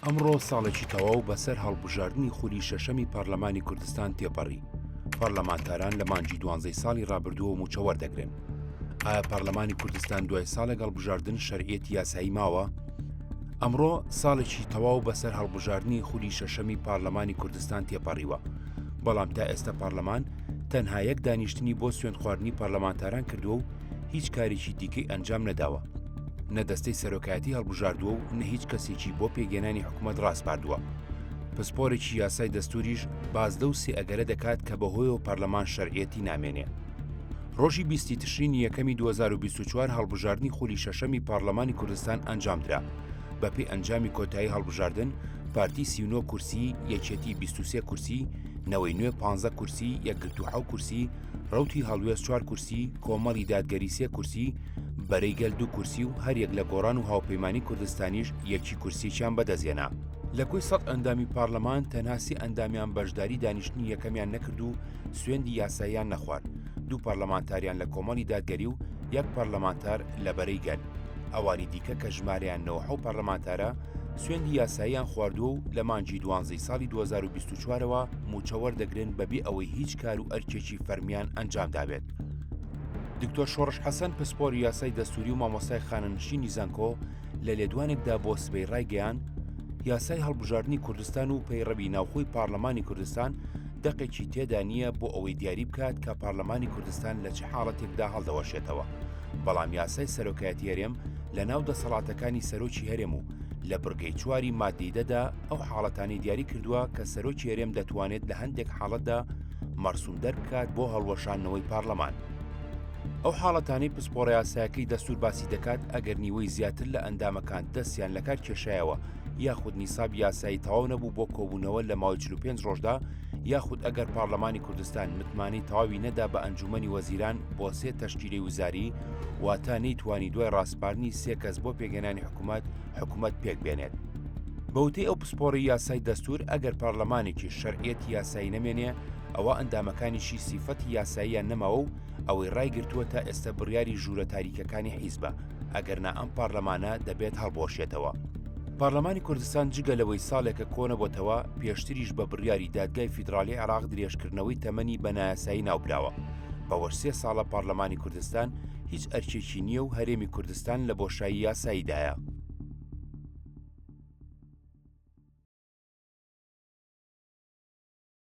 ئەمڕۆ ساڵێکی تەواو بەسەر هەڵبژاردنی خولی شەشەمی پەرلەمانی کوردستان تێپەڕی، پەرلەمانتاران لە مانگی دوانزەی ساڵی رابردووەوە مووچە وەردەگرن، ئایا پەرلەمانی کوردستان دوای ساڵێک هەڵبژاردن شەرعیەتی یاسایی ماوە؟ ئەمڕۆ ساڵێکی تەواو بەسەر هەڵبژاردنی خولی شەشەمی پەرلەمانی کوردستان تێپەڕیوە، بەڵام تا ئێستا پەرلەمان تەنها یەک دانیشتنی بۆ سوێندخواردنی پەرلەمانتاران کردووە و هیچ کارێکی دیکەی ئەنجام نەداوە نە دەستەی سەرۆکایەتی هەڵبژاردووە و نە هیچ کەسێکی بۆ پێگەێنانی حکوومەت ڕاستپاردووە پسپۆرێکی یاسای دەستوریش باز لەو سێ ئەگەرە دەکات کە بەهۆیەوە پەرلەمان شەرعەتی نامێنێ ڕۆژی بیستی تشرین یەکەمی 2024 هەڵبژاردننی خولی شەشەمی پارلەمانی کوردستان ئەنجامدرا بەپی ئەنجامی کۆتایی هەڵبژاردن پارتی سیونۆ کورسی یەکێتی 23 کورسی نەوەی نوێ 15 کورسی یەکگرتو حو کورسی ڕەوتی هەڵوێست چوار کورسی، کۆمەڵی دادگەری سێ کورسی، بەرەی گەل دوو کورسی و هەر یەک لە گۆڕان و هاوپەیمانیی کوردستانیش یەکی کورسییەکیان بەدەستهێنا. لە کۆی سەد ئەندامی پارلمان تەنها سێ ئەندامیان بەشداریی دانیشتنی یەکەمیان نەکرد و سوێندی یاساییان نەخوارد، دوو پارلمانتاریان لە کۆمەڵی دادگەری و یەک پارلمانتار لە بەرەی گەل. ئەوانی دیکە کە ژمارەیان نەوەحەو پارلمانتارە، سوێندی یاساییان خواردووە و لە مانگی دوانزەی ساڵی دوو هەزار و بیست و چوارەوە مووچە وەردەگرن بەبێ ئەوەی هیچ کار و ئەرکێکی فەرمیان ئەنجام دابێت. دکتۆر شۆڕش حەسەن پسپۆری یاسای دەستوری و مامۆستای خانەنشینی زانکۆ لە لێدوانێکدا بۆ سبەی ڕایگەیان یاسای هەڵبژاردنی کوردستان و پەیڕەوی ناوخۆی پارلەمانی کوردستان دەقێکی تێدا نییە بۆ ئەوەی دیاری بکات کە پارلەمانی کوردستان لە چ حاڵەتێکدا هەڵدەوەشێتەوە بەڵام یاسای سەرۆکایەتی هەرێم لە ناو دەسەڵاتەکانی سەرۆکی هەرێم و لە بڕگەی چواری ماددەی دەدا ئەو حاڵەتانی دیاری کردووە کە سەرۆکی هەرێم دەتوانێت لە هەندێک حاڵەتدا مەرسوم دەربکات بۆ هەڵوەشانەوەی پارلەمان. ئەو حاڵەتانی پسپۆڕە یاسایەکەی دەستور باسی دەکات ئەگەر نیوەی زیاتر لە ئەندامەکان دەستیان لە کار کێشایەوە یاخود نیساب یاسایی تەواو نەبوو بۆ کۆبوونەوە لە ماوەی 45 ڕۆژدا یاخود ئەگەر پارلەمانی کوردستان متمانەی تەواوی نەدا بە ئەنجومەنی وەزیران بۆ سێ تەشکیلی وزاری واتە نەیتوانی دوای ڕاسپاردنی سێ کەس بۆ پێگەنانی حکومەت حکومەت پێک بێنێت. بە وتەی ئەو پسپۆڕی یاسای دەستور ئەگەر پارلەمانێکی شەرعیەتی یاسایی نەمێنێ ئەوا ئەندامەکانیشی سیفەتی یاساییان نەماوە و ئەوەی ڕایگرتووە تا ئێستە بڕیاری ژوورە تاریکەکانی حیزبە ئەگەرنا ئەم پارلەمانە دەبێت هەڵبوەشێتەوە. پارلەمانی کوردستان جگە لەوەی ساڵێکە کۆنەبۆتەوە پێشتریش بە بڕیاری دادگای فیدراڵی عێراق درێژکردنەوەی تەمەنی بە نایاسایی ناوبراوە بەوەش سێ ساڵە پارلەمانی کوردستان هیچ ئەرکێکی نییە و هەرێمی کوردستان لە بۆشایی یاساییدایە.